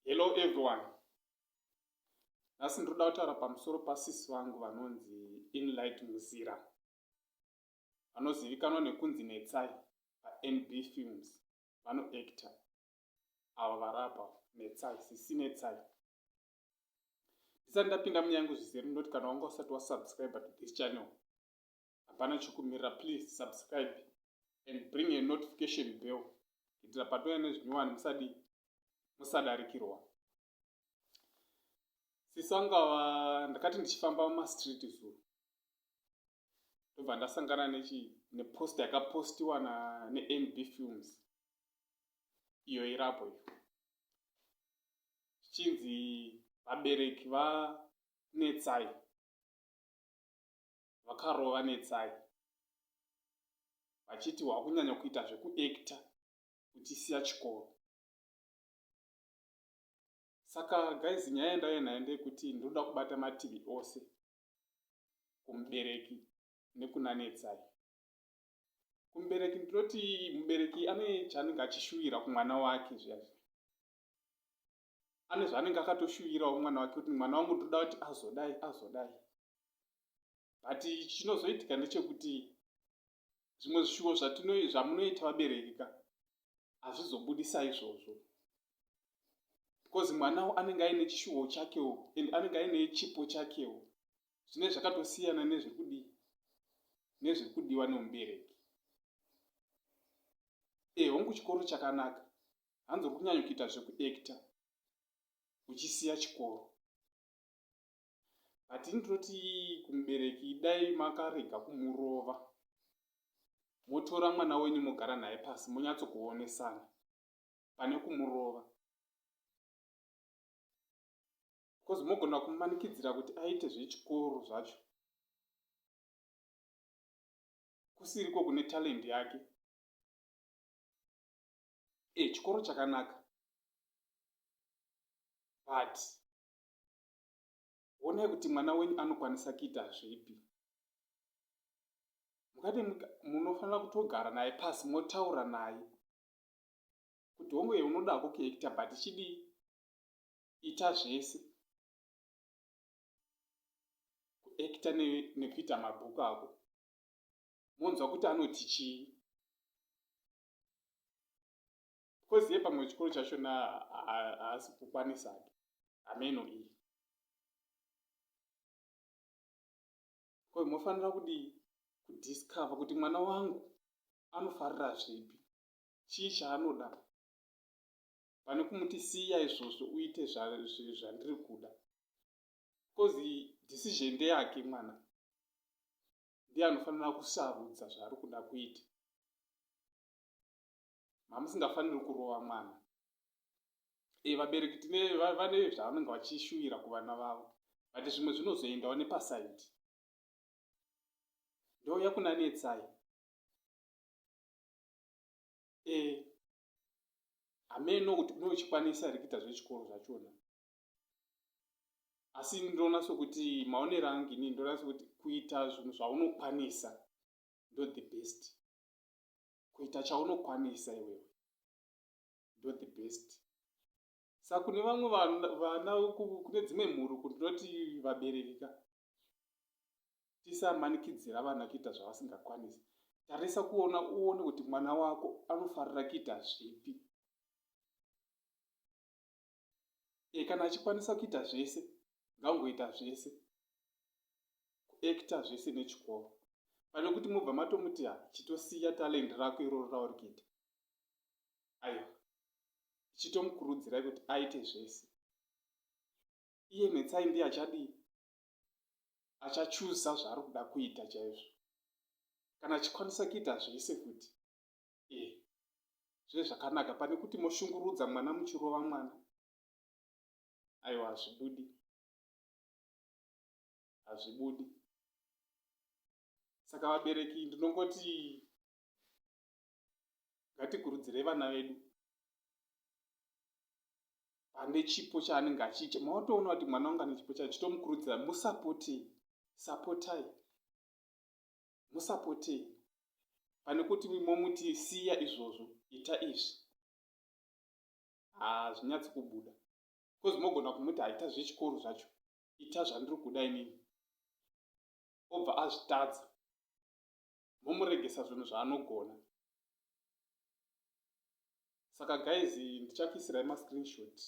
Hello everyone. Nhasi ndinoda kutaura pamusoro pasisi vangu vanonzi Inlight Muzira. Vanozivikanwa nekunzi Netsai paNB Films. Vanoactor. Ava varapa Netsai, sisi Netsai. Ndisati ndapinda munyaya yangu zvizere ndinoti kana wanga usati wasubscribe to this channel hapana chokumirira please subscribe and bring a notification bell kuitira patouya nezvinyowani musadi musadarikirwa sisangava ndakati ndichifamba mumastreet zuro ndobva ndasangana nechi nepost yakapostiwa na nenb films iyo irapo iyo zvichinzi vabereki vanetsai vakarova Netsai vachiti wakunyanya kuita zvekuactor uchisiya chikoro. Saka guys nyaya yandauya nayo ndeyekuti ndinoda kubata mativi ose kumubereki nekuna Netsai. Kumubereki ndinoti mubereki ane chaanenge achishuwira kumwana wake zviya zviya. ane zvaanenge akatoshuvirawo mwana wake kuti mwana wangu ndoda kuti azodai azodai but chinozoitika ndechekuti zvimwe zvishuvo zvamunoita vabereki ka hazvizobudisa izvozvo because mwanawo anenge aine chishuvo chakewo and anenge aine chipo chakewo zvine zvakatosiyana nezviri kudii nezviri kudiwa nemubereki e hongu chikoro chakanaka hanzi uri kunyanya kuita zvekuacta uchisiya chikoro but ini ndinoti kumubereki dai makarega kumurova motora mwana wenyu mogara naye pasi monyatsokuonesana pane kumurova bcause mogona kumanikidzira kuti aite zvechikoro zvacho kusiriko kune talendi yake e chikoro chakanaka but honai kuti mwana wenyu anokwanisa kuita zvipi mukati munofanira kutogara naye pasi motaura naye kuti hongu ye unoda hako kuekita but chidii ita zvese kuekita nekuita mabhuku ako monzwa kuti anoti chii because ye pamwe chikoro chacho na haasi kukwanisa ake hameno iyi ko mofanira kudii kudiscover kuti mwana wangu anofarira zvipi chii chaanoda pane kumuti siya izvozvo uite zvandiri kuda because decision ndeyake mwana ndiye anofanira kusarudza zvaari kuda kuita mamusingafaniri kurova mwana e vabereki tine vane zvavanenge vachishuvira kuvana vavo but zvimwe zvinozoendawo nepasaidi ndouya kunanetsai e hameno kuti une uchikwanisa here kuita zvechikoro zvachona asi ndinoona sokuti maonero angu ini ndinoona sokuti kuita zvinhu zvaunokwanisa ndo the best kuita chaunokwanisa iwewe ndo the best sa kune vamwe vana kune dzimwe mhuru kundinoti vabereki ka tisamanikidzira vana kuita zvavasingakwanisi tarisa kuona uone kuti mwana wako anofarira kuita zvipi e kana achikwanisa kuita zvese ngaangoita zvese kuacta zvese nechikoro pane kuti mobva matomuti ha chitosiya talend rako iroro rauri kuita aiwa ichitomukurudzirai kuti aite zvese iye netsai ndiye achadii achachuza zvaari kuda kuita chaizvo kana achikwanisa kuita zvese kuti eh zve zvakanaka pane kuti moshungurudza mwana muchirova mwana aiwa hazvibudi hazvibudi saka vabereki ndinongoti ngatikurudzirei vana vedu pane chipo chaanenge achiita maotoona kuti mwana wangu ane chipo chacho chitomukurudzira musapoti sapotai musapote imi pane kuti momuti siya izvozvo ita izvi hazvinyatsi kubuda bcoz mogona kumuti haita zvechikoro zvacho ita zvandiri kuda inini obva azvitadza momuregesa zvinhu zvaanogona saka guys ndichakuisirai mascreenshot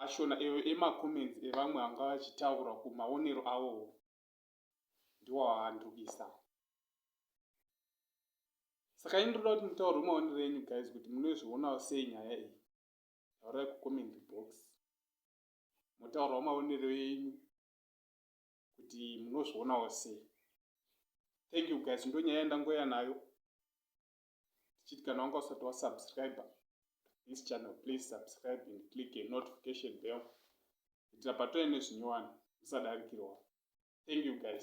ashona eyo emacomments evamwe vanga vachitaura kumaonero awowo ndiwo aandibisa saka ini ndoda kuti mutaurwe maonero enyu guys kuti munozvionawo sei nyaya iyi taurai kucomment box motaurawo maonero enyu kuti munozvionawo sei thank you guys ndonyaya yandangoya nayo tichiti kana wanga usati wasubscriber this channel please subscribe and click a notification bell kuitira patove nezvinyowani usadarikirwa thank you guys